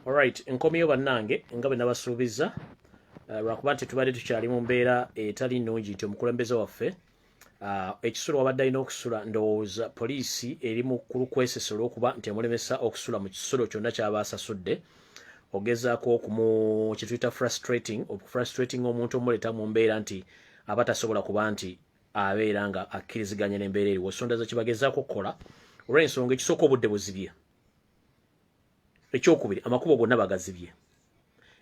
Alright, nkomyeyo bannange nga bwe nabasuubizza uh, lwakuba nti tubadde tukyali mu mbeera etali nnungi nti omukulembeze waffe uh, ekisulo wabadde alina okusula ndowooza poliisi eri mu kulukwesesa olwokuba nti emulemesa okusula mu kisulo kyonna kyaba asasudde ogezaako okumu kyetuyita frustrating okufrustrating omuntu omuleeta mu mbeera nti aba tasobola kuba nti abeera nga akkiriziganya n'embeera eriwo sonda ze kibagezaako okukola olw'ensonga ekisooka obudde buzibye ekyokubiri amakubo gonna bagazibye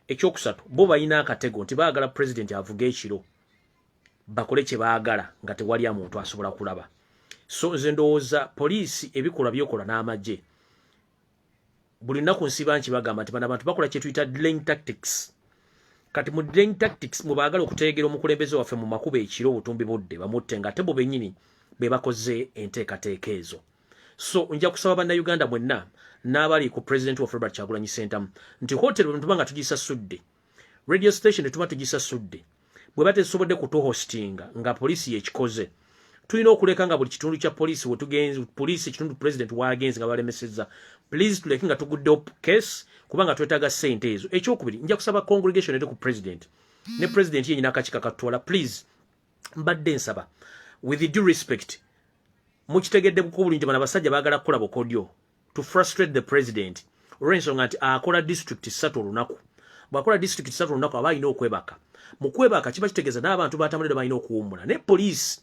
ekyokusatu bo balina akatego nti baagala pulezidenti avuga ekiro bakole kye baagala nga tewali amuntu asobola kulaba so nze ndowooza poliisi ebikolwa byokola n'amagye buli nnaku nsiba nki bagamba nti bano abantu bakola kyetuyita dling tactics kati mu dling tactics mwe baagala okuteegera omukulembeze waffe mu makubo ekiro obutumbi budde bamutte nga ate bo benyini be bakoze enteekateeka ezo so nja kusaba bannayuganda mwenna n'abali ku president of robert kyagulanyi sentamu nti hotel bwe tuba nga tugisasudde radio station etuba tugisasudde bwe batesobodde kutuhostinga nga poliisi yekikoze tulina okuleka nga buli kitundu kya poliisi wetugenzi poliisi ekitundu president wagenzi nga balemeseza please tuleke nga tuguddewo case kubanga twetaaga sente ezo ekyokubiri nja kusaba congregation eri ku president ne president yenyina akakika katutwala please mbadde nsaba with due respect mukitegedde kuko bulungi bana basajja bagala kula bokodyo to frustrate the president orenso ngati akola district satu lunaku bwakola district satu lunaku abayi no kwebaka mukwebaka kiba kitegeza na abantu batamulira bayi no kuwumula ne police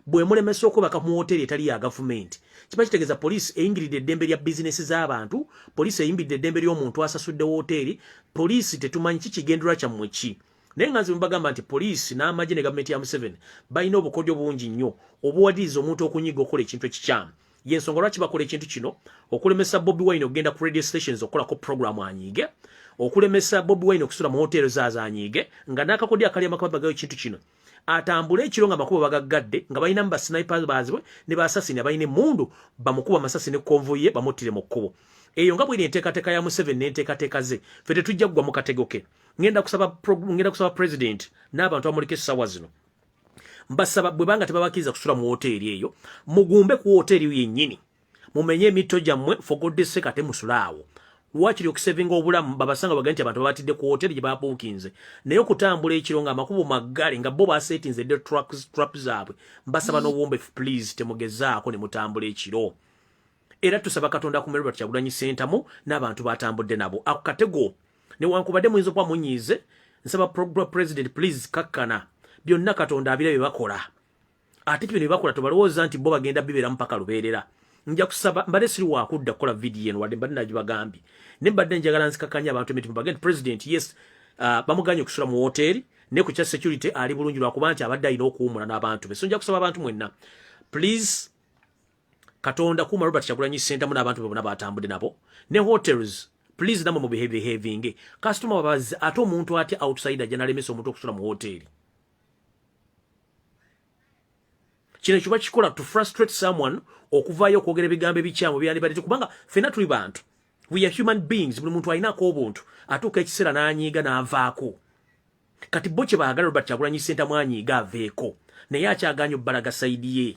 bwe mulemesa okwebaka mu hotel etali ya government kiba kitegeza police eingiride dembe lya business za abantu police eingiride dembe lyo muntu asasudde hotel police tetumanyi kikigendera kya mwechi naye nga nze mbagamba nti poliisi n'amagye ne gavumenti ya museveni balina obukodyo bungi nnyo obuwadiriza omuntu okunyiga okukola ekintu ekikyamu yensonga lwaki bakola ekintu kino okulemesa bobi wine okugenda ku radio stations okukolako programu anyiige okulemesa bobi wine okusula mu hoteero zaazo anyiige nga n'akakodyo akali amakababagayo ekintu kino atambule ekiro nga amakubo bagaggadde nga balinamu basinipa baazibwe ne basasini abalina emundu bamukuba amasasi ne konvoye bamuttire mu kkubo eyo nga bweri enteekateeka ya museveni n'enteekateeka ze fe tetujja kugwa mu katego ke ngenda kusaba ngenda kusaba president n'abantu amulika essaawa zino mbasaba bwe banga tebabakiriza kusula mu woteeri eyo mugumbe ku woteeri eyo yennyini mumenye emitto gyammwe fogoddese kate musulaawo wakiri okusevinga obulamu babasanga bagani nti abantu babatidde ku woteeri gye babuukinze naye okutambula ekiro nga amakubo maggale nga bo baseetinze de trap zaabwe mbasaba n'obuwombefu please temugezaako ne mutambula ekiro era tusaba katonda kume robert kyagulanyi sentamu n'abantu batambudde nabo ako katego newankubadde muyinza okuba munyiize nsaba program president please kakkana byonna katonda abira bye bakola ate kibino bye bakola tobalowooza nti bo bagenda bibeeramu paka lubeerera nja kusaba mbadde siri wakudda kukola vidiyo eno wadde mbadde nagibagambye ne mbadde njagala nzikakanya abantu emitima bagende president yes uh, bamuganye okusula mu wooteeri ne ku kya security ali bulungi lwakuba nti abadde alina okuwumula n'abantu be so nja kusaba abantu mwenna please katonda kuma robert kyagulanyi sentamu n'abantu be bona batambudde nabo ne hotels please namwe mubihevihevinge kasitoma babazi ate omuntu atya outside ajja nalemesa omuntu okusula mu hoteli kino kiba kikola to frustrate someone okuvaayo okwogera ebigambo ebikyamu byandibadde kubanga fena tuli bantu we are human beings buli muntu alinaako obuntu atuuka ekiseera n'anyiiga n'avaako kati bo kye baagala robert kyagulanyi sentamu anyiiga aveeko naye akyaganya obbalaga saidi ye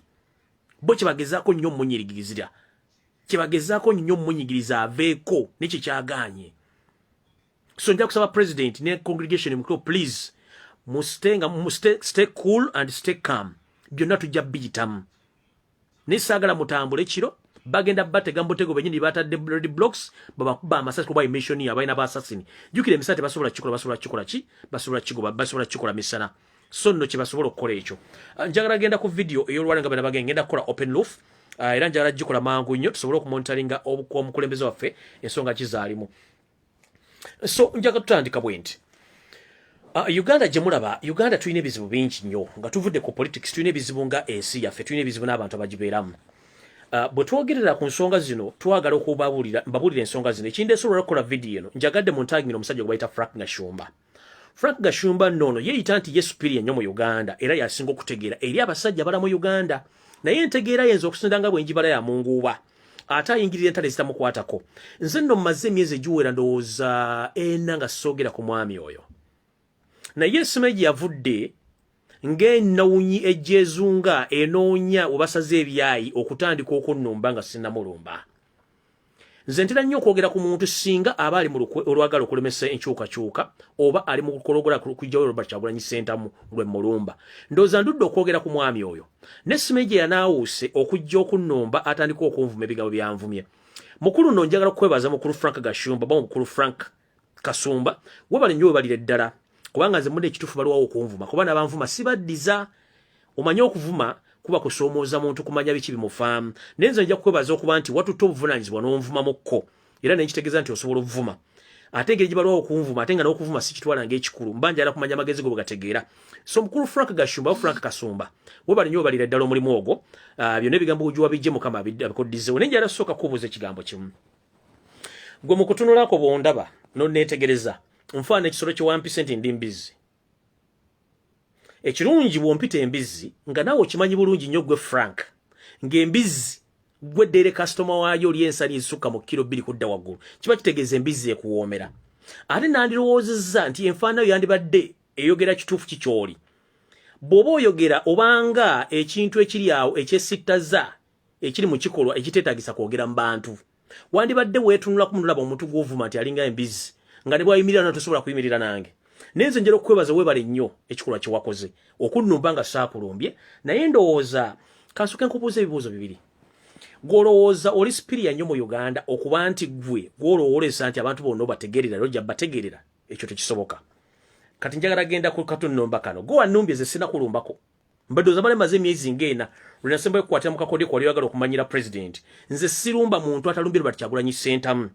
bo kyebagezaako nnyo omunyirigirizira kyebagezaako nnyo omunyigiriza aveeko nekyo kyagaanye so nja kusaba president ne congregation mukiro please musite nga musite stay cool and stay calm byonna tujja biyitamu naye saagala mutambule kiro bagenda batega mutego benyini batadde red blocks babakuba amasasi kuba emission ya balina basasini jukira emisate basobola kikola basobola kikola ki basobola kikola basobola kikola misana so nno kye basobola okukola ekyo ah, njagala genda ku vidiyo ey'olwala nga bana bagenda ngenda kukola open loof ah, era njagala gikola mangu nnyo tusobole okumonitaringa omukulembeze waffe ensonga kizaalimu so njaga tutandika bwe nti Uh, Uganda gye mulaba Uganda tulina ebizibu bingi nnyo nga tuvudde ku politics tulina ebizibu nga ensi yaffe tulina ebizibu n'abantu abagibeeramu uh, bwe twogerera ku nsonga zino twagala okubabuulira mbabuulira ensonga zino ekindeesobola okukola vidiyo eno njagadde mu ntangiro omusajja gwe bayita frank nashumba uh, Frank Gashumba nono yeyita nti ye superior nyo mu Uganda era yasinga okutegeera eri abasajja bala mu Uganda naye entegeera yenza okusinda nga bwenjibala ya munguuba ate ayingirira entale zitamukwatako nze nno mmaze emyezi egiwera ndowooza ena nga soogera ku mwami oyo naye esima egye yavudde ng'enawunyi egyezunga enoonya webasaze ebyayi okutandika okunnumba nga sinamulumba nze ntera nnyo okwogera ku muntu singa aba ali mu olwagala okulemesa enkyukakyuka oba ali mu kukologola kujjawo robert kyagulanyi sentamu lwe mulumba ndooza ndudde okwogera ku mwami oyo ne simeje yanaawuuse okujja okunnumba atandika okunvuma ebigambo byanvumye mukulu no njagala kukwebaza mukulu frank gashumba ba mukulu frank kasumba webale nyo webalire ddala kubanga nze mudde ekitufu baliwawo okunvuma kuba nabanvuma sibaddiza omanye okuvuma kuba kusoomooza muntu kumanya biki bimufaamu naye nze nja kukwebaza okuba nti watutte obuvunanyizibwa n'onvumamukko era nenkitegeeza nti osobola okuvuma ate engeri gyebalwawo okunvuma ate nga n'okuvuma sikitwala ngaekikulu mba njala kumanya amagezi go bwegategeera so mukulu frank gashumba frank kasumba webali nyo webalira ddala omulimu ogwo ah, byonna ebigambo ojuwa bijje mukama abikoddizewo naye njala sooka kubuuza ekigambo kimu gwe mukutunulako bwondaba nonetegereza nfaana ekisolo kyewampise nti ndi mbizzi ekirungi bwompita embizzi nga naawe okimanyi bulungi nnyo gwe frank ngaembizzi gwe ddeere kasitoma waayo oli ensani ezisukka mu kiro bbiri kudda waggulu kiba kitegeeza embizzi ekuwoomera ate nandirowoozezza nti enfaanayo yandibadde eyogera kituufu kikyoli bw'oba oyogera obanga ekintu ekiri awo ekyesittaza ekiri mu kikolwa ekiteetagisa kwogera mu bantu wandibadde weetunulaku munulaba omuntu gw'ovuma nti alinga embizi nga ne bwayimirira na tosobola kuyimirira nange naye nze njera okukwebaza weebale nnyo ekikolwa kye wakoze okunnumba nga saakulumbye naye ndowooza kansuke nkubuuza ebibuuzo bibiri gw'olowooza oli sipiriya nnyo mu uganda okuba nti gwe gw'olowooleza nti abantu bonna obategeerera era ojja bategeerera ekyo tekisoboka kati njagala genda ku katunnumba kano gwe wannumbye ze sinakulumbaku mbadde ozamala emaze emyezi ngaena lwenasembayo kukwatira mu kakodeko wali oyagala okumanyira pulezidenti nze sirumba muntu atalumbye lubati kyagulanyi sentamu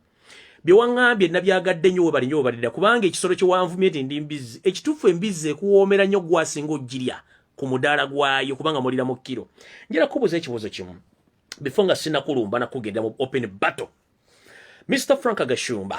byewaŋambye nabyagadde nnyo webali nyo webalira kubanga ekisolo kyewanvumye nti ndi mbizzi ekituufu embizzi ekuwoomera nnyo gwasinga ogirya ku mudaala gwayo kubanga mulira mu kkiro njera kubuuza ekibuuzo kimu before nga sinakulumba nakugenda mu open battle mr frank gashumba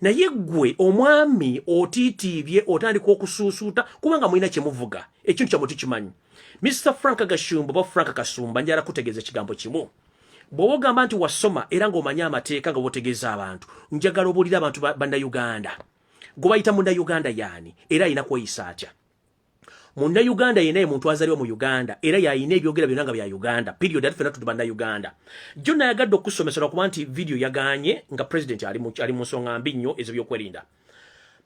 naye gwe omwami otitiibye otandika okusuusuuta kubanga mulina kyemuvuga ekintu kyamwe tukimanyi mr frank gashumba oba frank kasumba njala kutegeeza ekigambo kimu bw'oba ogamba nti wasoma era ng'omanyi amateeka nga bwotegeeza abantu njagala obuulira abantu bannayuganda gwe bayita munayuganda yaani era alina kweyisa atya Muna Uganda yena ye muntu azaliwa mu Uganda era yayina ebyogera byona nga bya Uganda period ati fena tutuba na Uganda jona yagadde okusomesa na kubanti video yaganye nga president ali mu ali musonga mbi nnyo ezo byokwerinda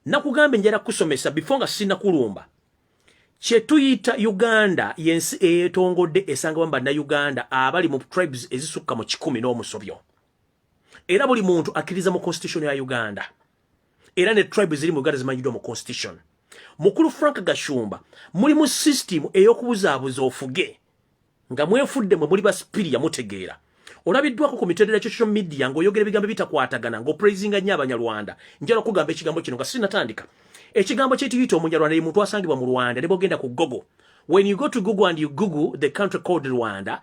nakugambe njera kusomesa before nga sina kulumba kye tuyita Uganda yensi eyetongodde esanga bamba na Uganda abali mu tribes ezisukka mu 10 n'omusobyo era buli muntu akiriza mu constitution ya Uganda era ne tribe ziri mu uganda zimanyiddwa mu constitution mukulu frank gashumba muli mu system ey'okubuzaabuza ofuge nga mwefudde mwe muli basipiriya mutegeera olabiddwako ku mitendera social media ng'oyogera ebigambo ebitakwatagana ng'opraisinga nnyo abanyarwanda njala okugamba ekigambo kino nga sinatandika ekigambo kyetiyita omunyarwanda ye muntu asangibwa mu rwanda ne bogenda ku google when you go to google and you google the country called rwanda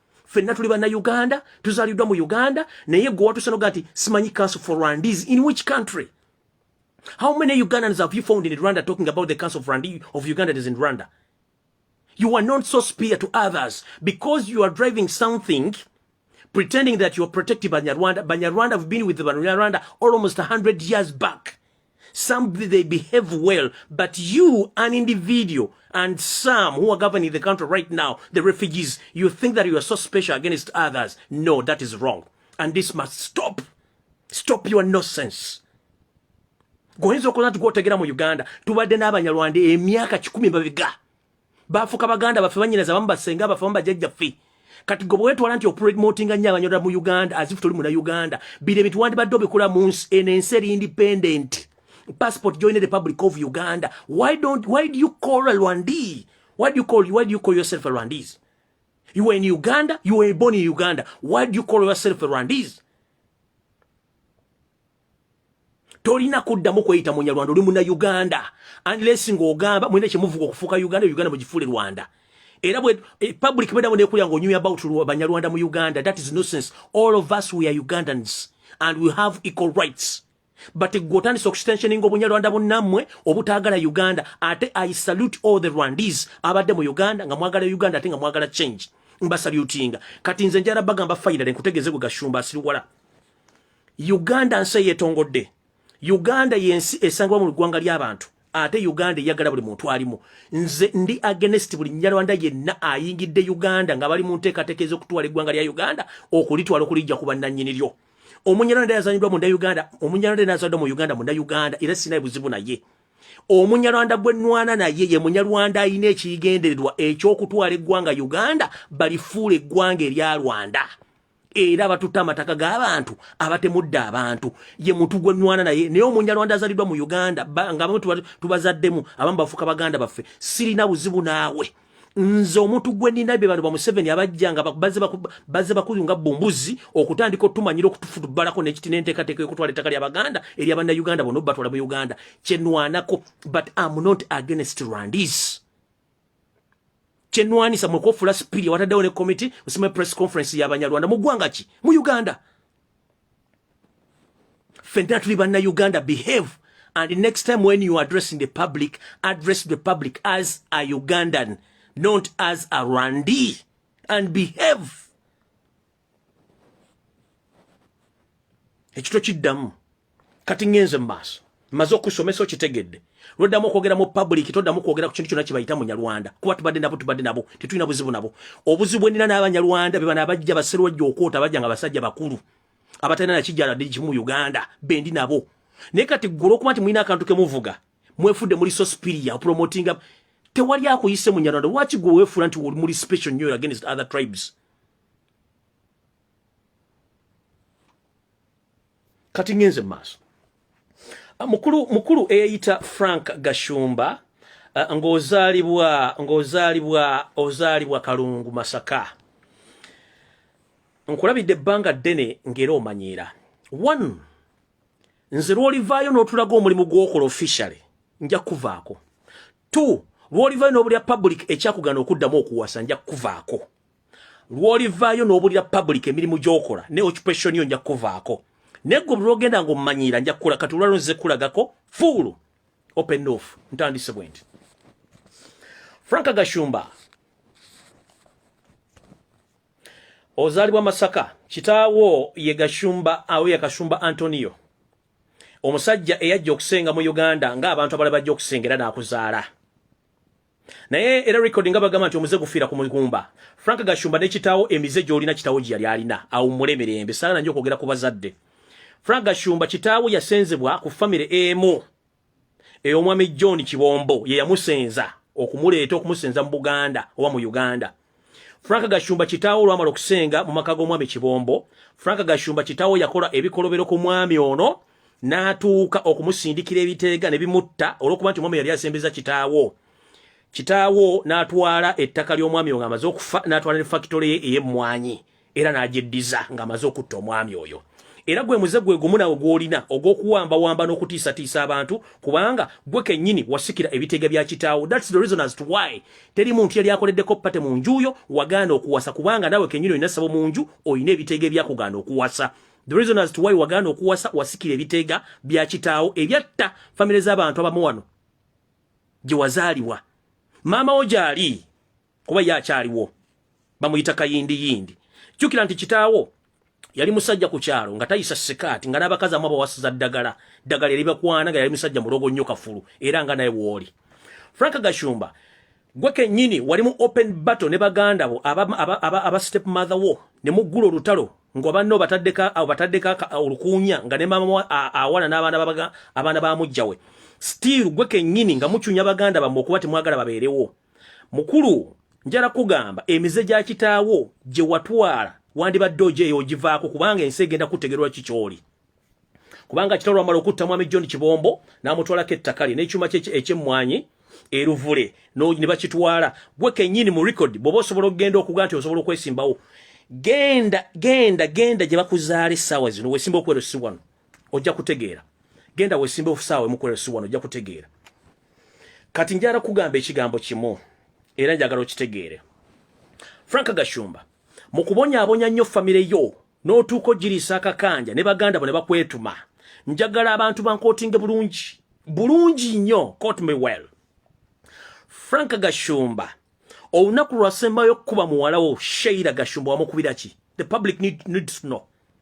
fenna tuli banna uganda tuzaliddwa mu uganda naye gwe watusanoga nti simanyi council for rwandese in which country how many ugandans have you found in rwanda talking about the council of, Rwanda, of ugandans in rwanda you are not so spear to others because you are driving something pretending that you are protecting banyarwanda banyarwanda have been with banyarwanda almost 100 years back some they behave well but you an individual and some who are governing the country right now the refugees you think that you are so special against others no that is wrong and this must stop stop your nonsense goyinza okola nti gwotegera mu uganda tubadde n'abanyarwanda emyaka kikumi babiga bafuka baganda baffe banyinaza bamu basenga baffe bamu bajajja ffe kati gwe bwetwala nti opromotinga nnyo abanyola mu uganda as if toli muna uganda bino ebintu wandibadde obikula mu nsi eno ensi eri independent passport join republic of uganda why don't why do you call a rwandese why do you call why do you call yourself a rwandese you were in uganda you were born in uganda why do you call yourself a rwandese tolina kuddamu kweyita munyarwanda oli muna uganda unless ng'ogamba mulina kyemuvuga okufuuka uganda uganda mugifuule rwanda era bwe e, public bweddamu nekulya ng'onyumya about banyarwanda mu uganda that is nonsense all of us we are ugandans and we have equal rights but gwe otandisa okustensioninga obunyarwanda bunnammwe obutaagala uganda ate i salute all the rwandese abadde mu uganda nga mwagala uganda ate nga mwagala change mbasalutinga kati nze njala bagamba fainale nkutegeeze gwe gashumba asiriwala uganda nsi eyetongodde uganda yensi esangibwa mu ggwanga ly'abantu ate uganda eyagala buli muntu alimu nze ndi agenest buli nyarwanda yenna ayingidde uganda nga bali mu nteekateeka ez'okutwala eggwanga lya uganda okulitwala okulijja ku bannannyini lyo omunyarwanda yazanyidwa munda uganda omunyarwanda nazanyidwa mu uganda munda uganda era sinaye buzibu naye omunyarwanda gwenwana naye ye munyarwanda alina ekigendererwa ekyokutwala eggwanga uganda balifuula eggwanga erya rwanda era batutta amataka g'abantu abatemudde abantu ye muntu gwe nwana naye naye omunyarwanda azaliddwa mu uganda nga bamu tubazaddemu abamu bafuuka baganda baffe sirina buzibu naawe nze omuntu gwe nina be bano ba museveni abajja nga bazze bakuyu nga bumbuzi okutandika otumanyira okutufutubalako nekiti nenteekateeka yokutwala ettaka lya baganda erya banna uganda bona obatwala mu uganda kyenwanako but am not against rwandis kyenwanisa mwe kofula spiria wataddewo ne committee usime press conference ya banyarwanda mu ggwanga ki mu uganda fenna tuli banna uganda behave and next time when you addressing the public address the public as a ugandan not as a rwandi and behave ekito kiddamu kati ngenze mu maaso maze okusomesa okitegedde lwoddamu okwogera mu public toddamu kwogera ku kintu kyonna kibayita munyarwanda kuba tubadde nabo tubadde nabo tetulina buzibu nabo obuzibu bwenina n'abanyarwanda bebano abajja baserwajja okwota bajja nga basajja bakulu abatalina nakijjala ddi kimu uganda bendi nabo naye kati ggula okuba nti mulina akantu kemuvuga mwefudde muli so spiria promotinga tewali akuyise munyarwanda lwaki gwe wefuula nti muli special nyo against other tribes kati ngenze mu maaso ah, mukulu mukulu eyayita frank gashumba ah, ng'ozaalibwa ng'ozaalibwa ozaalibwa kalungu masaka nkulabidde ebbanga ddene ng'era omanyiira one nze lw'olivaayo n'otulaga omulimu gw'okola officially nja kukuvaako two lw'olivaayo n'obulya public ekyakugana okuddamu okuwasa nja kukuvaako lwolivaayo n'obulira public emirimu gy'okola ne occupation yo nja kukuvaako naye gwe bulwogenda nga omumanyiira nja kukula kati olwalo nze kulagako fuulu open off ntandise bwe nti frank gashumba ozaalibwa masaka kitaawo ye gashumba awo ye kashumba antonio omusajja eyajja okusenga mu uganda ng'abantu abala bajja okusengera n'akuzaala naye era record nga bagamba nti omuze gufiira ku mugumba Frank Gashumba ne kitawo emize gyolina kitawo gye yali alina awummule mirembe saala nanyo okwogera ku bazadde Frank Gashumba kitawo yasenzebwa ku family emu ey'omwami John Kibombo ye yamusenza okumuleeta okumusenza mu Buganda oba mu Uganda Frank Gashumba kitaawo olwamala okusenga mu maka g'omwami Kibombo, Frank Gashumba kitaawo yakola ebikolobero ku mwami ono n'atuuka okumusindikira ebiteega ne bimutta olw'okuba nti omwami yali asembeza kitaawo. Kitaawo n'atwala ettaka ly'omwami ono amaze okufa n'atwala ne fakitole ye ey'emmwanyi era n'agyeddiza ng'amaze okutta omwami oyo era gwe muze gwe gumu nawe gwolina ogw'okuwambawamba n'okutiisatiisa abantu kubanga gwe kennyini wasikira ebiteega bya kitaawo thats the reason as to why teri muntu yali akoleddeko pate mu njuuyo wagaana okuwasa kubanga nawe kennyini olina sabo mu nju olina ebiteega ebyakugaana okuwasa the reason as to why wagaana okuwasa wasikira ebiteega bya kitaawo ebyatta famire z'abantu abamu wano gye wazaalibwa maama wo gyali kuba ye akyaliwo bamuyita kayindi yindi jukira nti kitaawo yali musajja ku kyalo nga tayisa sikaati nga n'abakazi amu abawasiza ddagala ddagala eribakwana nga yali musajja mulogo nnyo kafulu era nga naye wooli frank gashumba gwe kennyini wali mu open battle ne baganda bo aba, aba, aba, aba step mother wo ne muggula olutalo nga banno bataddeko abo bataddeko olukuunya nga ne maama awana n'abaana abaana ba mujjawe still gwe kennyini nga mucunya baganda bammwe okuba temwagala babeerewo mukulu njala kugamba emize gya kitaawo gye watwala wandibadde ojeeyo ogivaako kubanga ensi egenda kutegerwa kikyoli kubanga kitalo amala okutta mwami john kibombo n'amutwalako ettaka lye n'ekyuma kye ekyemmwanyi eruvule ne bakitwala gwe kennyini mu record bw'oba osobola okugenda okuga nti osobola okwesimbawo genda genda genda gye bakuzaala essaawa zino wesimba okwerosibwano ojja kutegeera genda wesimbe ofusaawe mukolera si wano ojja kutegeera kati njala kugamba ekigambo kimu era njagala okitegeere frank gashumba mu kubonyabonya nnyo famire yo n'otuuka ogiriisa akakanja ne baganda bo ne bakwetuma njagala abantu bankootinge bulungi bulungi nnyo cot me well frank gashumba olunaku lwasembayo okukuba muwala wo sheira gashumba wamukubira ki the public need, needs to know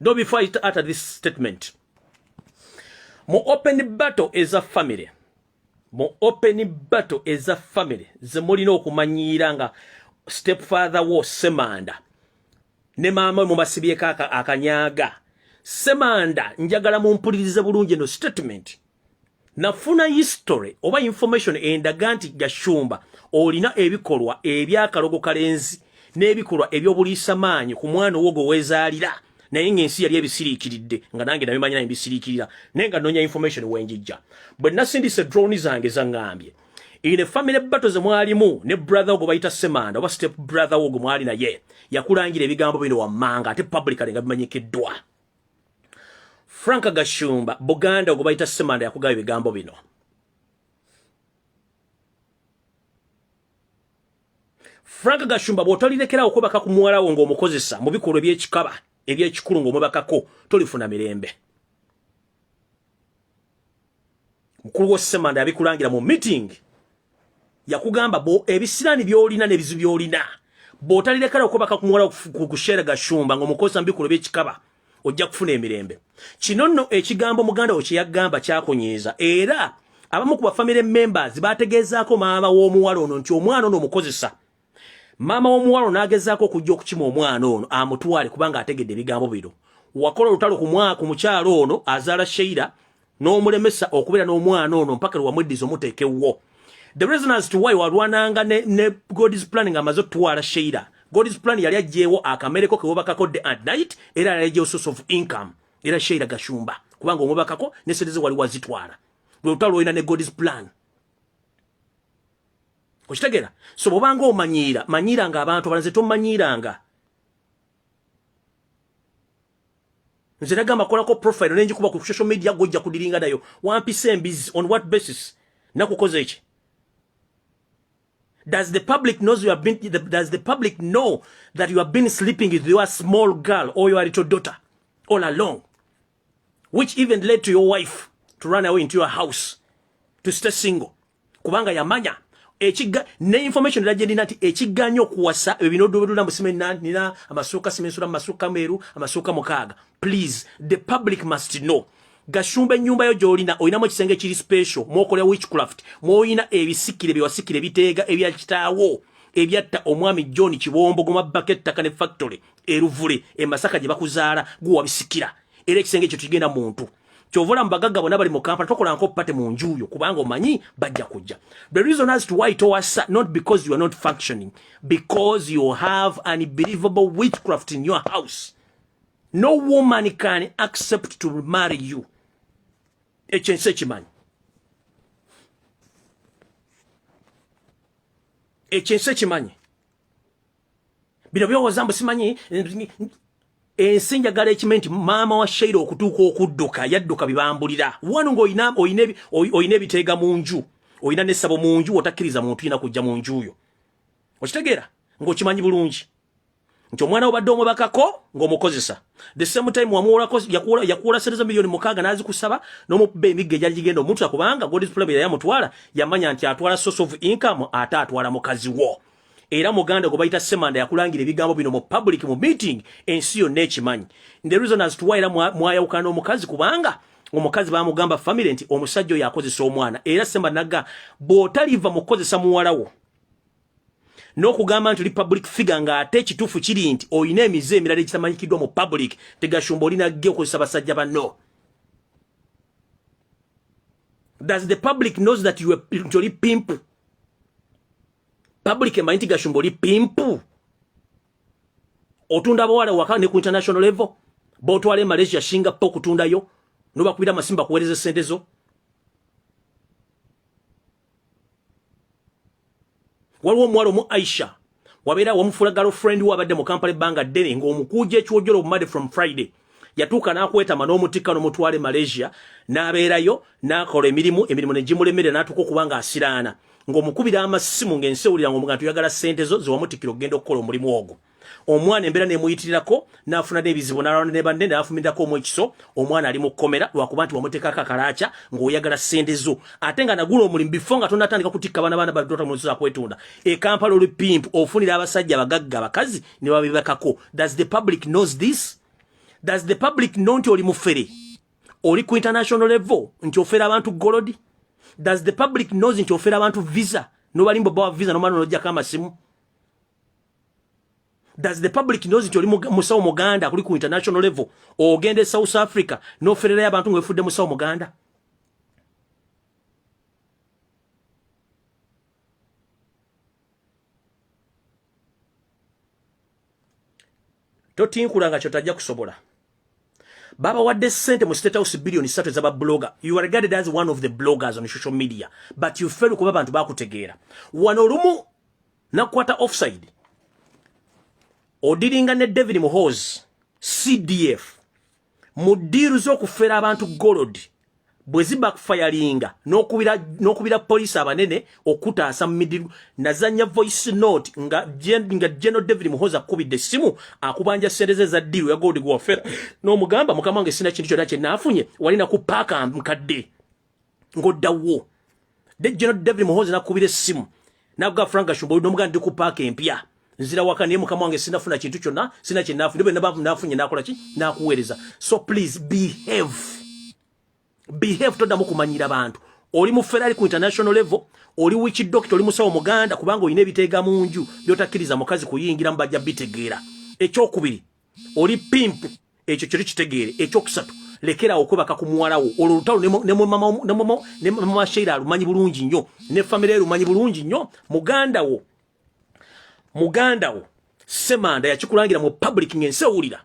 though before I utter this statement mu open battle is a family mu open battle is a family ze mulina okumanyiira nga step father wo semanda ne maama mu basibyeko akanyaaga semanda njagala mumpulirize bulungi eno statement nafuna history oba information endaga nti gashumba olina ebikolwa ebyakalogo kalenzi n'ebikolwa ebyobuliisa maanyi ku mwana owo gwewezaalira naye ng'ensi yali ebisiriikiridde nga nange nabimanya naye mbisiriikirira naye nga nonya information wenjijja bwe nasindise drone zange zangambye in a family battle ze mwalimu ne brother ogwo bayita semanda oba step brother ogwo mwali naye yakulangira ebigambo bino wammanga ate publicly nga bimanyikiddwa Frank Gashumba Buganda ogubayita Semanda yakugaba ebigambo bino Frank Gashumba bwotalirekerawo kubaka ku muwala wo ng'omukozesa mu bikolwa eby'ekikaba eby'ekikulu ng'omubakako tolifuna mirembe mukulu wo semanda yabikulangira mu meeting yakugamba bo ebisirani byolina ne bizu byolina botalire kala okubaka kumwala kushera gashumba ngo mukosa mbikulo byekikaba ojja kufuna emirembe kino nno ekigambo muganda wo kyeyagamba kyakunyiiza era abamu ku bafamire members bategeezaako maama w'omuwala ono nti omwana ono omukozesa maama w'omuwalo n'agezaako okujja okukima omwana ono amutwale kubanga ategedde ebigambo bino wakola olutalo ku mukyalo ono azaala sheira n'omulemesa okubeera n'omwana ono mpaka lwe wamweddiza omuteekewwo the reason as to why walwananga ne, ne god's plan nga amaze okutwala sheira god's plan yali ajjeewo akamereko kewobakako day and night era yali ajjeewo source of income era sheira gashumba kubanga omubakako ne sente ze wali wazitwala lwe lutalo lwolina ne god's plan okitegera so bobanga omanyiira manyiiranga abantu abalala nze tomanyiiranga nze nagamba kolako profile nenjikuba ku social media gojja kudiringa nayo wampisa embizi on what basis nakukoze eki does the public knows you have been the, does the public know that you have been sleeping with your small girl or your little daughter all along which even led to your wife to run away into your house to stay single kubanga yamanya ekiga ne information era gyendina nti ekiganya okuwasa ebyo binodobedula musime nina amasuuka simensula masuuka meeru amasuuka mukaaga please the public must know gashumba ennyumba yo gyolina olinamu ekisenge ekiri special mwokola witchcraft mwoyina ebisikire byewasikire biteega ebya kitaawo ebyatta omwami john kibombo gumabako ettaka ne factory eruvule emasaka gye bakuzaala guwabisikira era ekisenge ekyo tugenda muntu kyovola mubagagga bona bali mu kampala tokola nko pate mu njuuyo kubanga omanyi bajja kujja the reason as to why towasa not because you are not functioning because you have an unbelievable witchcraft in your house no woman can accept to marry you ekyo ensi ekimanyi ekyo ensi ekimanyi bino byowoza mbu simanyi ensi njagala ekime nti maama wa sheira okutuuka okudduka yadduka bibambulira wanu ngaolina olina ebiteega mu nju olina nesabo mu nju otakkiriza muntu yina kujja mu njuyo okitegeera ngaokimanyi bulungi nti omwana obadde omubakako ng'omukozesa the same time yakuwola sente za miliyoni mukaaga n'azikusaba n'omukuba emigga egyali gigenda omutula kubanga godis problem yamutwala yamanya nti atwala source of income ate atwala mukazi wo era muganda gwe bayita semanda yakulangira ebigambo bino mu public mu meeting ensi yonna ekimanyi the reason as to why era mwayawukana n'omukazi kubanga omukazi bamugamba family nti omusajja oyo akozesa omwana era semba naga bw'otaliva mu kukozesa muwalawo n'okugamba nti oli public figure ng'ate ekituufu kiri nti olina emize emirala egitamanyikiddwa mu public tegashumba olina ge okozesa basajja banno does the public knows that you are, nti oli pimpu public emanyi nti gashumba oli pimpu otunda bawala waka ne ku international level botwala e malaysia shinga po okutundayo nobakubira amasimu bakuweereza esente zo waliwo omuwala omu aisha wabeera wamufuula girlfriend we abadde mu kampala ebbanga ddene ng'omukuuja ekiwojolo obumade from friday yatuuka n'akwetama n'omutikka n'omutwale malaysia n'abeerayo n'akola emirimu emirimu ne gimulemerera n'atuuka okuba nga asiraana ng'omukubira amasimu ng'ensi ewulira nga omugantu yagala ssente zo zewamutikkira okugenda okukola omulimu ogwo omwana embeera nemuyitirirako n'afuna n'ebizibu n'alwana ne banne n'afumirirako omu ekiso omwana ali mu kkomera lwakuba nti wamuteekako akalaaca ng'oyagala ssente zo ate nga nagula omulimu bifo nga tonatandika kutikka baana baana balidota mu nsi zakwetunda e kampala olupimpu ofunira abasajja abagagga abakazi ne babibakako does the public knows this does the public know nti oli mufere oli ku international level nti ofera abantu golodi does the public knows nti ofera abantu visa nobalimba bawa visa nomana nojjako amasimu does the public knows nti oli musawo muganda kuli ku international level ogenda e south africa nofererayo abantu nga wefudde musawo muganda totinkula nga kyotajja kusobola baba wadde sente mu state house billion satu za blogger you are regarded as one of the bloggers on social media but you fail kuba abantu bakutegeera wano olumu nakwata offside odiringa ne david muhoz cdf mu diiru z'okufera abantu golodi bwe zibakfayalinga n'okubira poliisi abanene okutaasa mu midiru nazanya voice note nga geno david muhoza akukubidde essimu akubanja ssente ze za diiru ya golodi gwewafera n'omugamba mukama wange sina kintu kyonna kye naafunye walina ku paaka nkadde ngoddawo dejjeno david muhozi nakubira essimu nakuga frank ashumba oli nomugaa ndi ku paaka empya nzira waka naye mukama wange sinafuna kintu kyonna sina kyenafu ndio benabavu nafunye nakola ki nakuweereza so please behave behave toddamu kumanyira bantu oli mu ferrari ku international level oli wiki dokita oli musawo muganda kubanga olina ebiteega mu nju byotakkiriza mukazi kuyingiramu bajja bitegeera ekyokubiri oli pimpu ekyo kiri kitegeere ekyokusatu lekerawo okwebaka ku muwalawo olwo olutalo ne mama sheira alumanyi bulungi nnyo ne famire erumanyi bulungi nnyo muganda wo muganda wo semanda yakikulangira mu public ng'ensi ewulira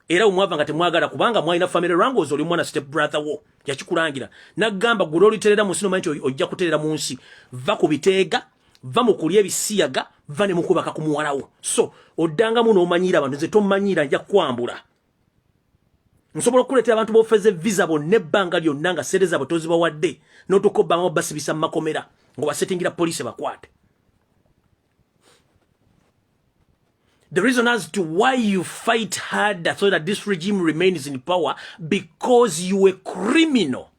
era omwava nga temwagala kubanga mwalina famire rangos oli omwana step brother wo yakikulangira nagamba gula oliterera mu nsi nomanyi nti ojja kuterera mu nsi va ku biteega va mu kulya ebisiyaga va ne mukubaka ku muwalawo so oddangamu n'omanyiira abantu nze tomanyiira nja kwambula nsobola okukuleetera abantu bofeze visa bonna ebbanga lyonna nga sente zaabwe tozibawadde n'otuuka obbanga basibisa mu makomera ng'obasetingira poliisi bakwate The reason as to why you fight harder so that this regime remains in power because you a criminal.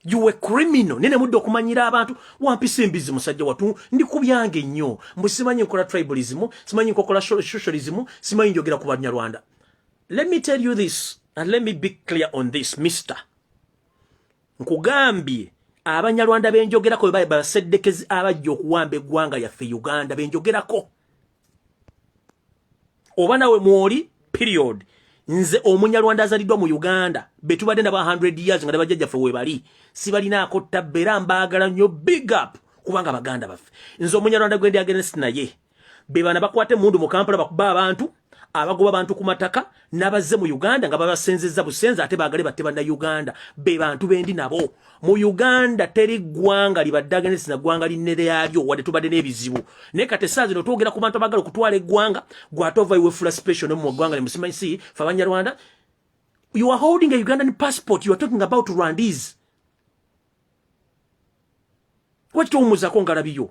you were criminal nene mudde okumanyira abantu wampisa embizi musajja watu ndi ku byange nnyo mbu simanyi nkola tribalism simanyi nkokola socialism simanyi njogera ku banyarwanda let me tell you this and let me be clear on this mister nkugambye abanyarwanda benjogerako bebaye baseddekezi abajja okuwamba eggwanga yaffe uganda benjogerako oba nawe mwoli period nze omunyarwanda azaliddwa mu uganda betubadde naba 100 years nga nebajjajjaffe webali sibalinaako ttabba era mbaagala nnyo big up kubanga baganda baffe nze omunyarwanda gwendi agenesi naye bebana bakwata emundu mu kampala bakuba abantu abagoba abantu ku mataka nabazze mu uganda nga babasenzezza busenze ate bagale batte banna uganda be bantu bendi nabo mu uganda teri ggwanga libadde agenesi na ggwanga linne lyalyo wadde tubadde n'ebizibu naye kati essaa zino twogera ku bantu abagala okutwala eggwanga gwate ova iwefula special ne mu ggwanga limusimansi fe abanyarwanda you are holding a ugandan passport you are talking about rwandese lwaki towumuzako ngalabiyo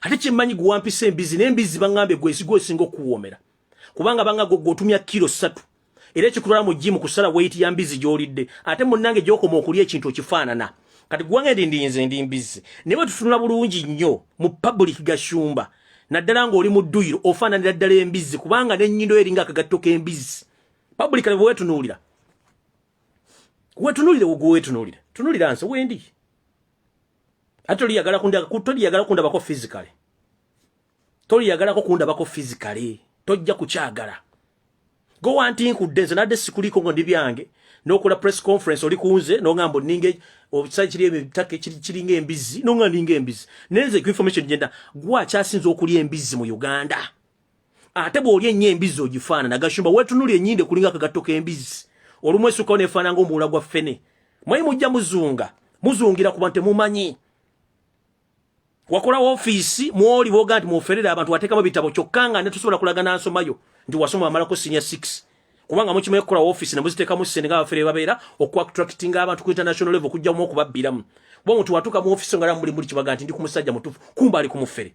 ate kyemmanyi gwewampisa embizi naye embizi baŋŋambye gwezigwa esinga okukuwoomera kubanga banga gwe gwotumya kiro ssatu era ekikutwala mu jimu kusala weyiti ya mbizi gy'olidde ate munnange gyokoma okulya ekintu okifaanana kati gwange ndi ndinze ndi mbizi naye bwe tutunula bulungi nnyo mu pabulik gashumba naddala ng'oli mu dduyiro ofaananira ddala embizzi kubanga n'ennyindo eringa akagatto k'embizzi pabulik ne bwewetunuulira wetunuulire gwewetunuulire tunulira nsi wendi ate oli yagala kundaga kutoli yagala kundabako physically toli yagalako kundabako physically tojja kukyagala go wanti nkudde nze nadde sikuliko ngo ndi byange nokola press conference oli kunze nongambo ninge obusai kiri ebitake kiri kiri nge embizi nonga ninge embizi nenze ku information jenda gwa kyasinze okuli embizi mu Uganda ate bw'olya ennyo embizzi ogifaanana gashumba weetunuli ennyinde kulinga akagatto k'embizzi olumu esukao neefaana nga omuwula gwa ffene mwayi mujja muzunga muzungira kuba temumanyi wakola ofiisi mwoli booga nti muferere abantu wateekamu bitabo kyokka nga netusobola kulaga nansomayo nti wasoma wamalako sinia six kubanga mukimanyi kukola ofiisi nemuziteekamu ssente nga abafere babeera okuactractinga abantu ku international level okujjamu okubabbiramu kuba omuntu watuuka mu ofiisi nga namuli muli kibaga nti ndi ku musajja mutuufu kumba ali ku mufere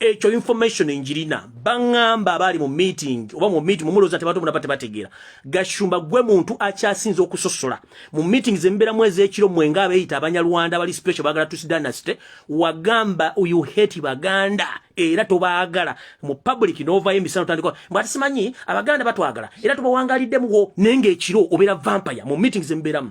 ekyo information njirina bangamba abali mu meeting oba mu meeting mumuloza tebatu munabate bategera gashumba gwe muntu akyasinze okusosola mu meeting zembera mwezi ekiro mwenga abeyita abanyarwanda bali special bagala tusi dynasty wagamba uyu hate baganda era tobagala mu public nova emisano tandiko mbati simanyi abaganda batwagala era tubawangalidde muwo nenge ekiro obera vampire mu meeting zemberamu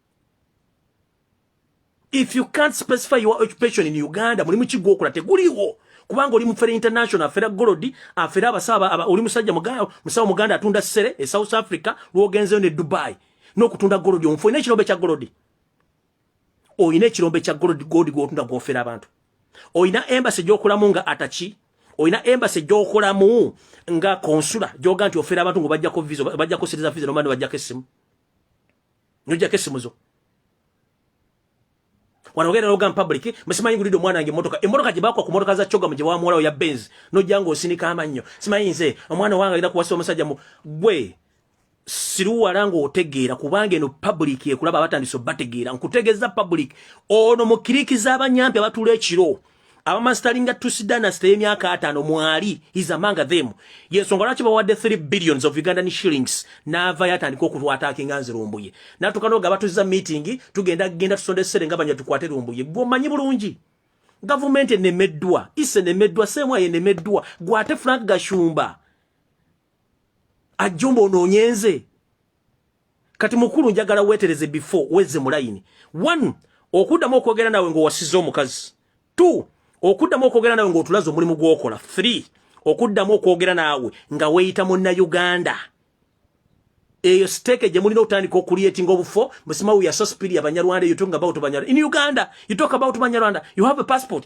if you can't specify your occupation in uganda mulimu ki gwokola teguliwo kubanga oli mufere international afera golodi afera abasaba oli musajja musawo muganda atunda sere e south africa lwogenzeyo ne dubai n'okutunda golodi omufu olina ekirombe kya golodi olina ekirombe kya golodi goldi gwotunda gwofera abantu olina embasi gyokolamu nga ataki olina embasi gyokolamu nga konsula gyoga nti ofera abantu ngo bajjako vizo bajjako siriza vizo nomani bajjako essimu nojako esimuzo wano ogenda noga mupublic musimanyi ngulidde omwana wange emotoka emotoka gyebakwa ku motoka za cogamu gyebawamuwalawo ya benz nojja nga osinika amannyo simanyi nze omwana wange agenda kuwasa omusajja mu gwe siruwala ng'otegeera kubanga eno public ekulaba abatandise obategeera nkutegeeza public ono mukirikiza abanyampi abatula ekiro abamazitalinga tusidanas teyemyaka ataano mwali is among them yensonga lwaki bawadde 3 billions of ugandan shillings naava yatandika okutwatakinga nze lumbuye natuka noga batuzza meeting tugenda genda tusonda essere nga banya tukwate lumbuye gwe omanyi bulungi gavumenti enemeddwa is enemeddwa semwa enemeddwa gwate frank gashumba ajjumba onoonyenze kati mukulu njagala wetereze before weze mulayini one okuddamu okwogera nawe ng'owasiza omukazi two okuddamu okwogera nawe ng'otulaze omulimu gw'okola three okuddamu okwogera naawe nga weeyita munna uganda eyo siteeke gye mulina okutandika okuliyetinga obufo musimawu yasospiri abanyarwanda you talking about banyarwanda in uganda you talk about banyarwanda you have a passport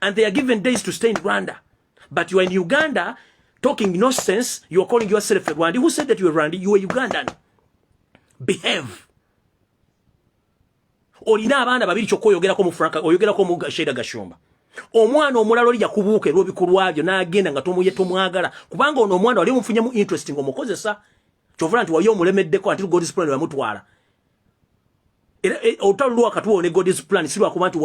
and they are given days to stay in Rwanda but you are in Uganda talking no sense you are calling yourself a Rwandi who said that you are Rwandi you are Ugandan behave olina abaana babiri kyokka oyogerako mu franka oyogerako mu sheeda gashumba omwana omulala oli yakubuuka erwobikolwa byo n'agenda nga tomuye tomwagala kubanga ono omwana wali omufunyemu interest nga omukozesa kyovula nti wali omulemeddeko anti lugodisplane bamutwala era eh, olutalo lwa wakati wo ne god's plan si lwakuba nti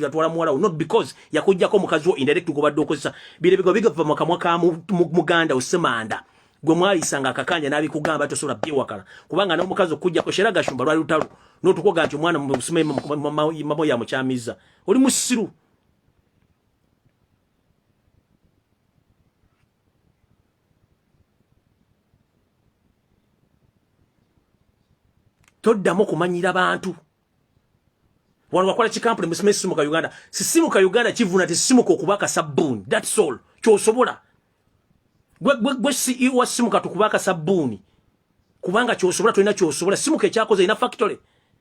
yatwala muwala wo not because yakujjako omukazi wo indirect gobadde okozesa birebega bigava mu kamwa ka muganda osemanda gwe mwalisanga akakanja n'abikugamba tosobola byewakala kubanga n'omukazi okujjako shera gashumba lwali lutalo n'otukoga nti omwana mumamo yamukyamiza oli musiru toddamu kumanyira bantu wano wakola kikampuni musime simu ka Uganda sisimu ka Uganda kivuna ti simu ko kubaka sabuni that's all kyosobola gwe gwe gwe si iwa e simu ka tukubaka sabuni kubanga kyosobola tulina kyosobola simu ke kyakoze ina factory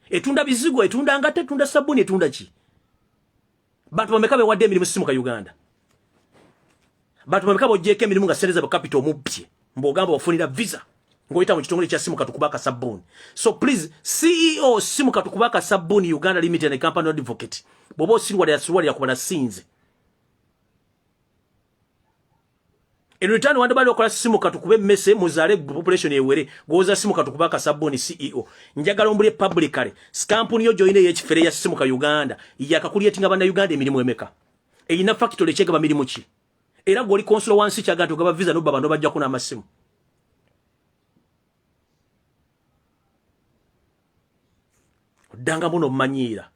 etunda bizigo etunda ngate etunda sabuni etunda ki Bantu bameka be wadde emirimu simuka Uganda. Bantu bameka bojjeko emirimu nga sereza ba capital mubbye. Mbogamba wafunira visa. Ngoita mu kitongole kya simuka tukubaka sabuni. So please CEO simuka tukubaka sabuni Uganda Limited and Company Advocate. Bobo sirwa ya sirwa ya kubana sinze. In return wanda bali okola simu katukube mese muzale population ewere goza simu katukuba ka sabuni CEO njagala ombule publicly scampuni yo joine ye kifere ya simu ka Uganda ya kakuli yetinga bana Uganda emirimu emeka eyina factory chega bamirimu chi era goli consul wansi chaga tugaba visa no baba no bajja kuna amasimu danga muno manyira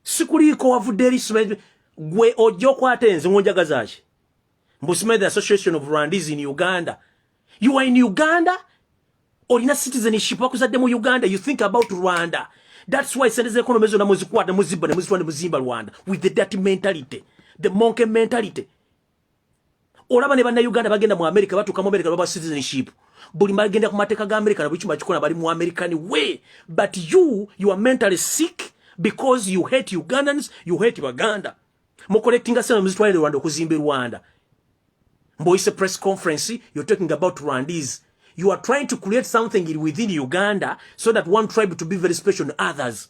sikuliiko wavudde eri smith gwe ojja okwata enze ngonjagazaki mbu smith association of rwandis in uganda you are in uganda olina citizenship wakuzadde mu uganda you think about rwanda that's why sente zekonomi zona muzikwata muzibba nemuzitwa nemuzimba rwanda with the dirty mentality the monkey mentality olaba ne bannayuganda bagenda mu amerika batuuka mu amerika baba citizenship buli magenda ku mateeka ga amerika na buli kimu akikola bali mu american way but you you are mentally sick because you hate ugandans you hate baganda mukoletinga sena muzitwalire rwanda okuzimba rwanda mboyise press conference you're talking about rwandese you are trying to create something within uganda so that one tribe to be very special than others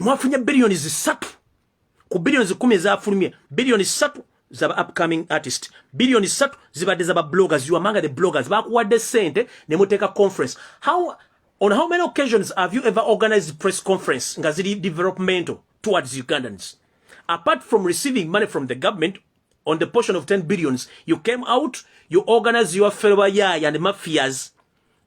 mwafunye biliyoni zisatu ku biliyoni zikumi ezafulumye biliyoni satu zaba upcoming artist biliyoni satu zibadde zaba bloggers you among the bloggers bakuwadde sente ne muteeka conference how on how many occasions have you ever organized press conference nga ziri developmental towards ugandans apart from receiving money from the government on the portion of 10 billions you came out you organize your fellow yaya and mafias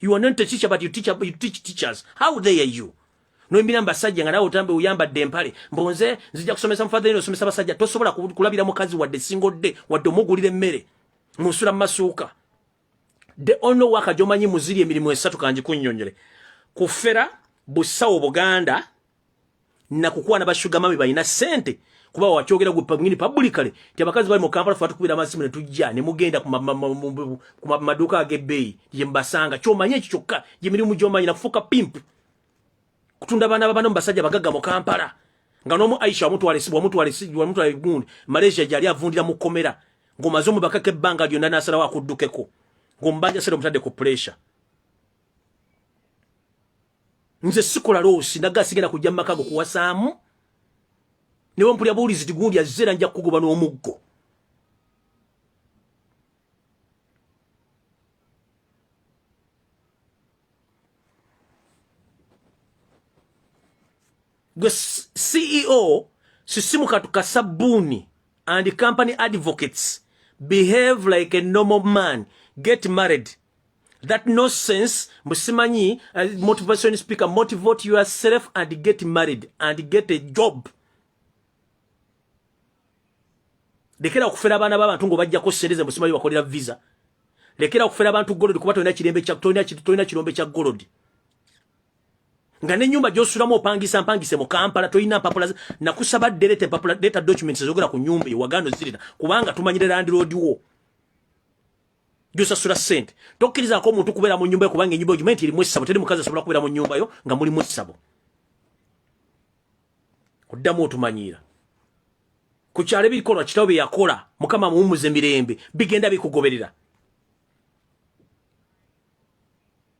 You are not a teacher but you teach, you teach teachers. How dare you? Noimbira mbasajja nga nawe otambe uyambadde empale mbonze nzija kusomesa mufadha yino osomesa basajja tosobola kulabira mukazi wadde single day wadde omugulira emmere musula masuuka the only work jomanyi muziri emirimu esatu kanji kunyonyole kufera busawo buganda nakukwana ba sugar mami balina sente kuba wakyogera gwe pangini publicly ti abakazi bali mu Kampala fatu kubira amasimu ne tujja ne mugenda ku maduka agebbeyi ye mbasanga kyomanye ekyo kyokka gye mirimu gyomanyi nakufuuka pimp kutunda abaana babana mu basajja bagagga mu Kampala nga n'omu Aisha wamutwala esibu wamutwala esibu wamutwala egundi Malaysia gyali avundira mu komera ng'omaze omubakako ebbanga lyonna n'asalawo akuddukeko ng'omubanja sera omutadde ku pressure nze sikola loosi naga sigenda kujja mu makago kuwasaamu newe mpulya buulizi tigundi azze era nja kukugoba n'omuggo gwe ceo sisimu katuka sabbuuni and company advocates behave like a normal man get married that no sense mbusimanyi uh, motivation speaker motivate yourself and get married and get a job lekera okufera abaana b'abantu ng'obajjako ssente ze mbusimanyi bakolera visa lekera okufera abantu golodi kuba tolina kirembe tolina kirombe kya golodi nga nenyumba gyosulamu opangisa mpangise mu kampala tolina mpapula nakusaba dereta mpapula data documents ezogera ku nyumba ewagano zirina kubanga tumanyire landiroodi wo gyosasula sente tokkirizako omuntu kubeera mu nyumba yo kubanga enyumba ogimanyi nti erimu essabo teri mukazi asobola kubeera mu nyumba yo nga mulimu essabo oddamu otumanyiira ku kyalo ebikolwa kitawo bye yakola mukama amuwummuze mirembe bigenda bikugoberera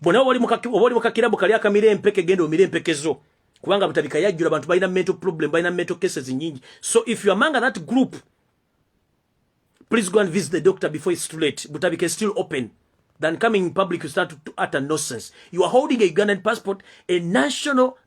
bona wali mukaki wali mukakira bukali akamire empeke gendo omire empeke zo kubanga butabika yajjura abantu balina mental problem balina mental cases nyingi so if you among that group please go and visit the doctor before it's too late butabika is still open than coming in public you start to, to utter nonsense you are holding a Ugandan passport a national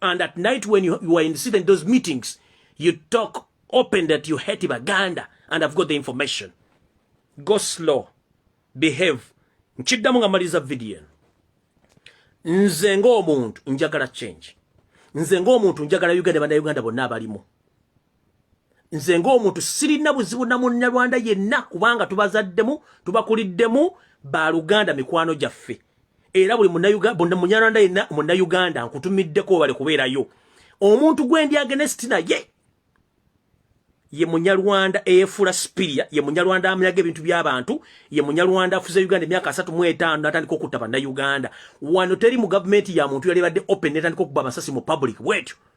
And at night when you, you are in sitting those meetings, you talk open that you hate Baganda and I've got the information. Go slow. Behave. Nchiddamu nga maliza video. Nze ng'omuntu njagala change. Nze ng'omuntu njagala Uganda bana Uganda bonna abalimu. nze ng'omuntu sirina buzibu na munyarwanda yenna kubanga tubazaddemu tubakuliddemu baluganda mikwano gyaffe era buli munyarwanda yenna munnayuganda nkutumiddeko webale kubeerayo omuntu gwendi agenesti naye ye munyarwanda eyefuula sipiria ye munyarwanda amyaga ebintu by'abantu ye munyarwanda afuze uganda emyaka asatu mu etaano natandika okutta bannayuganda wano teri mu gavumenti ya muntu yali badde open netandika okuba amasasi mu public bwetyo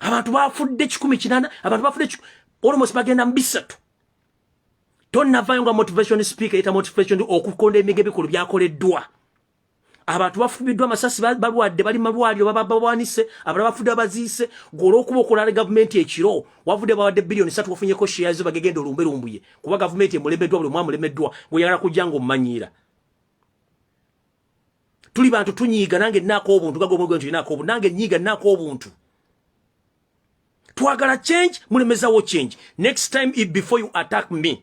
abantu bafudde kikumi kinana abantu bafudde almost bagenda mu bisatu tonnavayo nga motivation speaker eta motivation okukonda emige bikulu byakoleddwa abantu bafubiddwa amasasi balwadde bali malwaliro bababawanise abalala bafudde abaziise gwolwokuba okulala gavumenti ekiro wavudde bawadde biliyoni satu wafunyeko sheyazo bagegenda olumbe lumbuye kuba gavumenti emulemeddwa buli mwamulemeddwa gweyagala kujja nga omumanyiira tuli bantu tunyiiga nange nnaako obuntu nga gwomu gwenti nnaako obuntu nange nyiiga nnaako obuntu twagala change mulemezawo change next time if before you attack me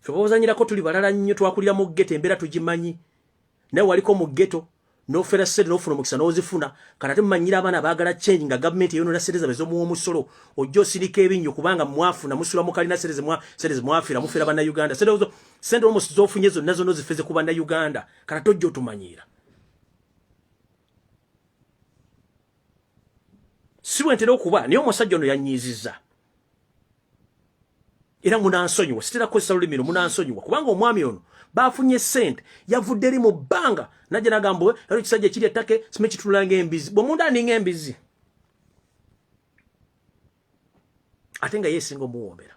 fe bozanyirako tuli balala nnyo twakulira mu ggeto embeera tugimanyi naye waliko mu ggeto nofera sente nofuna omukisa nozifuna kati ate mumanyira abaana baagala change nga gavumenti eyonona sente zabwe zomuwa omusolo ojja osirika ebinnyo kubanga mwafuna musula mukalina sente mwafira mufera bannayuganda sente omusi zofunye zonna zonna ozifeze ku bannayuganda kati ate ojja otumanyiira si bwentera okuba naye omusajja ono yanyiiziza era munansonyiwa sitera kukozesa lulimi luno munansonyiwa kubanga omwami ono bafunye sente yavudde eri mu bbanga najja nagamba we era ekisajja ekiri ettake simanyi kitunula ngaembizi bwe munda aninga embizi ate nga yeesinga omuwoomera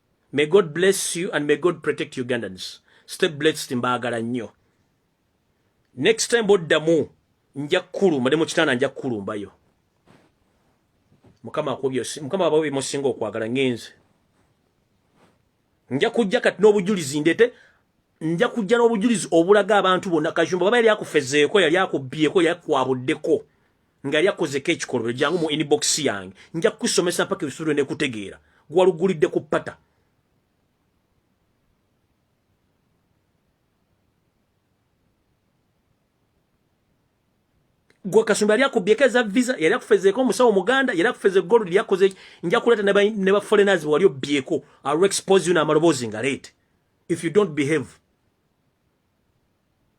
May God bless you and may God protect Ugandans. Stay blessed mbaagala nnyo. Next time boddamu nja kukulumba ne mu kitanda nja kukulumbayo. Mukama akubye Mukama abawe bimusinga okwagala ngenze. Nja kujja kati n'obujulizi ndete nja kujja n'obujulizi obulaga abantu bonna kajumba baba yali akufezeeko yali akubbyeko yali akwabuddeko. nga yali akozeko ekikolobero jangu mu inbox yange nja kukusomesa mpaka ebisulo ne kutegeera gwalugulidde ku pata gwe kasumba yali akubyeko eza visa yali akufezeeko omusawo muganda yali akufeze golo lyakoze nja kuleeta ne ba foreigners wali obyeko alu expose you n'amaloboozi nga leete if you don't behave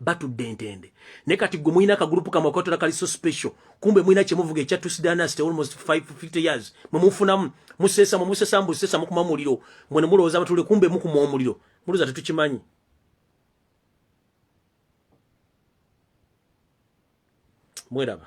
batudde entende ne kati gwe mulina akagulupu kamwe akotola kali so special kumbe mulina kyemuvuga ekya tusidanast almost 550 years mwemufunamu musesa mumusesa mbusesa mukuma muliro mwene mulowooza abatule kumbe mukuma omuliro muluza tetukimanyi mweraba